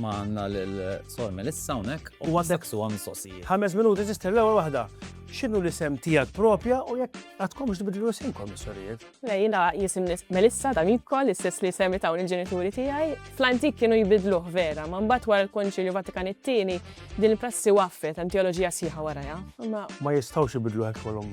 Ma għandna lil Sor Melissa hawnhekk u għandek su għam mistoqsijiet. Ħames minuti sister l-ewwel waħda. X'inhu l-isem tiegħek propja u jekk għadkomx tbidlu isimkom is-sorijiet? Le jiena jisim Melissa ta' Mikko l-istess li semmi tawn il-ġenituri tiegħi. Fl-antik kienu jbidluh vera, ma mbagħad wara l-Konċilju Vatikan it-tieni din il-prassi waffet hemm teoloġija sħiħa warajha. Ma ma jistgħux ibidlu hekk kolhom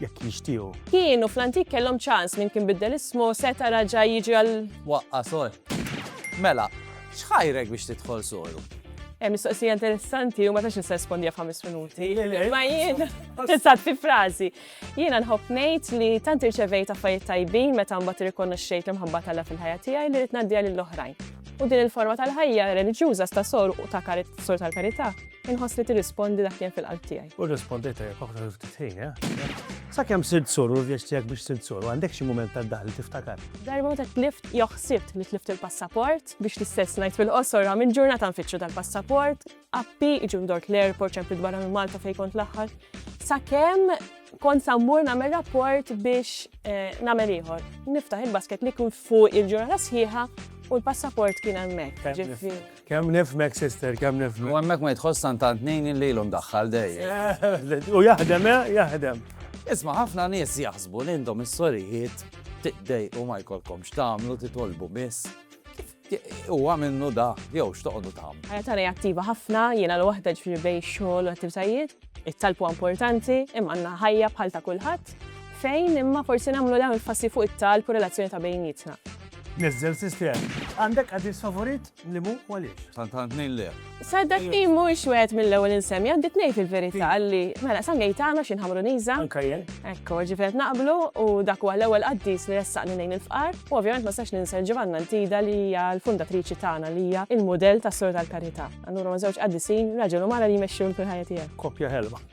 jekk jixtiequ. Kienu fl-antik kellhom ċans minn kien biddel ismu seta' raġa' jiġi għal. Waqqa sor. Mela, x'ħajrek biex tidħol soru? Hemm mistoqsija interessanti u ma tax nista' nirspondija f'ħames minuti. Ma jien, tista' fi frażi. Jiena nħobb ngħid li tant irċevejt affarijiet tajbin meta mbagħad irrikonoxxejt l-imħabba tal fil-ħajja tiegħi li rid ngħaddiha lill-oħrajn. U din il-forma tal-ħajja reliġjuża sta sor u ta' karit sor tal-karità inħoss li tirrispondi dak li hemm fil-qalb tiegħi. U rrispondejt jekk oħra ftit ħin, eh? Sakemm sirt sur u l-vjaġġ tiegħek biex sirt sur, għandek xi mument tad-daħk li tiftakar? Darba meta tlift jew ħsibt li tlift il-passaport. Biex l-istess ngħid fil-qosor għam il-ġurnata nfittxu dal-passaport, appi, iġu ndork l-airport ċempit barra minn Malta fejn kont l-aħħar. Sakemm kont sa mmur nagħmel rapport biex eh, nagħmel ieħor. Niftaħ il-basket li kien fuq il-ġurnata sħiħa u l-passaport kien hemmhekk. Ġifi. Kemm nifhmek sister, kemm nifhmek. U hemmhekk ma jidħolx San tant ngħin illi ilu mdaħħal dejjem. U jaħdem eh, jaħdem. Isma' ħafna nies jaħsbu li intom is-sorijiet tiqdejqu ma jkollkomx tagħmlu titolbu biss. Huwa minnu da, jew x'toqgħodu tagħmlu. Ħajja tagħna hija attiva ħafna, jiena l waħda ġifieri bej xogħol u attivitajiet. It-talb huwa importanti, imma għandna ħajja bħal ta' kulħadd fejn imma forsi nagħmlu dawn il-fassi fuq it-talb u relazzjoni ta' bejnietna. Niżżel sistema. Għandek qaddis favorit li mhu u għaliex? Tant għand tnejn le. Saddaqni mhuwiex wieħed mill-ewwel insemmi, għandi tnejn fil-verità li mela San Gejtano xi nħamru niża. Anka jien. Ekku, ġifieri qed naqblu u dak huwa l-ewwel qaddis li ressaqni lejn il-fqar u ovvjament ma nistax ninsa l-Ġivanna Ntida li hija l-fundatriċi tagħna li hija l-mudell tas-Sur tal-Karità. Allura huma żewġ qaddisin, raġel u mara li jmexxu l-ħajja tiegħi. Koppja ħelwa.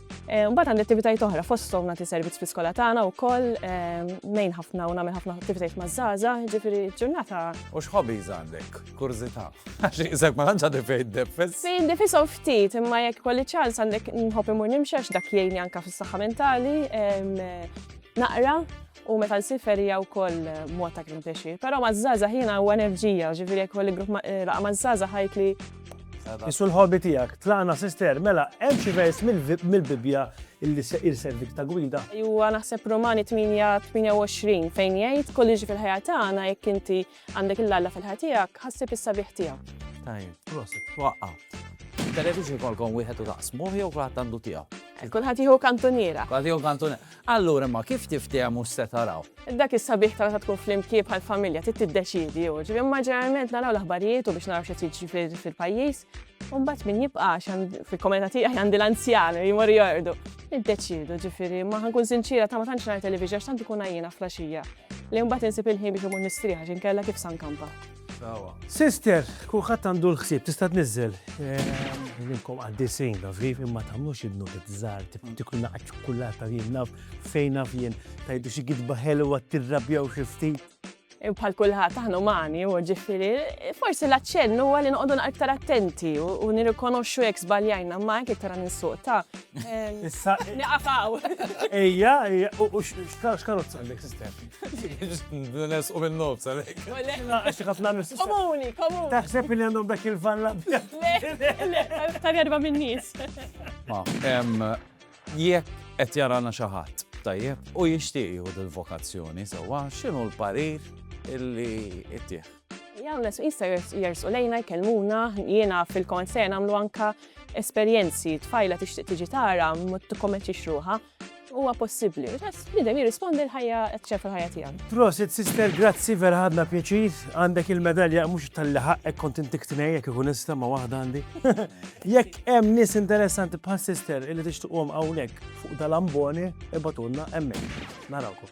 Eh, mbagħad għandi attivitajiet oħra fosthom nagħti servizz fi skola tagħna wkoll eh, nejn ħafna u nagħmel ħafna attivitajiet maż-żgħaża, ġifieri ġurnata. U x'ħobi għandek? Kurżità. Għax iżek ma tantx għandi fejn defess. Fejn defisshom ftit, imma jekk kolli ċans għandek nħobb imur nimxax dak jgħinni anke fis-saħħa mentali, eh, naqra U meta nsir ferija wkoll eh, mod ta' kien pjaċir. Però maż-żgħażagħ jiena u enerġija, ġifieri jekk kolli grupp eh, laqa maż-żgħażagħ ħajt li Isu l-ħobi tijak, tlaqna sister, mela, hemm xi vers mill-Bibja illi se irservik ta' gwida. Juwa naħseb Romani 28 fejn jgħid kolliġi fil-ħajja tagħna jekk inti Għandek lil Alla fil-ħajja tiegħek, ħassib is-sabiħ tiegħu. Tajjeb, prosit, twaqqaf. Televixin ikolkom wieħed u taqsmuh jew kulħadd għandu tiegħu? Kulħadd jieħu kantuniera. Kulħadd jieħu kantuniera. Allura imma kif tiftehmu se taraw? Dak is-sabiħ ta' meta tkun flimkien bħal familja trid tiddeċidi jew. Ġifieri imma ġeneralment naraw l-aħbarijiet u biex naraw xi jiġri fil-pajjiż. Umbat min jibqa fil-komunità tiegħi għandi l-anzjani li jmorru jordu. Iddeċidu ġifiri, ma ħankun sinċira ta' ma tantx ngħid televiġa x'tant ikun għajjina flaxija. Li mbagħad insib il-ħin biex imur nistrieħ għax inkella kif san kampa. Sister, kulħadd għandu l-ħsieb tista' tniżżel. Minkom għaddi sejn naf viv imma tagħmlux idnu żgħar tikun naqgħad ċokulata jien naf fejn naf jien tajdu xi gidba ħelwa tirrabjaw xi ftit. Bħal kulħadd aħna umani, u ġifieri, forsi l-aċċenn huwa li noqogħdu aktar attenti u nirrikonoxxu jekk żbaljajna ma jekk iktar ninsuq ta' Issa niqafaw. Ejja, ejja, u x'karozza għandek sistem? Nes u minn nofs għalek. Għax ħafna nifs. Komuni, komuni. Taħseb li għandhom dak il-valla. Tal-erba minn nies. Jekk qed jarana xi ħadd, tajjeb, u jixtieq jieħu dil-vokazzjoni sewwa, x'inhu l-parir illi ittieħ? Hawn l jista' jersqu lejna jkellmuna, jiena fil-kont se nagħmlu anka esperjenzi, tfajla tixtieq tiġi tara, ma tikkommettix ruħha, huwa possibbli. Bidem jirrispondi l-ħajja ċef il-ħajja tiegħek. Prosit, sister, grazzi vera ħadna pjaċir. Għandek il-medalja mhux tal-li ħaqqek kont intik tnejjek ikun nista' ma' waħda għandi. Jekk Hemm nies interessanti bħal sister illi tixtuqhom hawnhekk fuq dal-amboni ibatulna hemmhekk. Narawkom.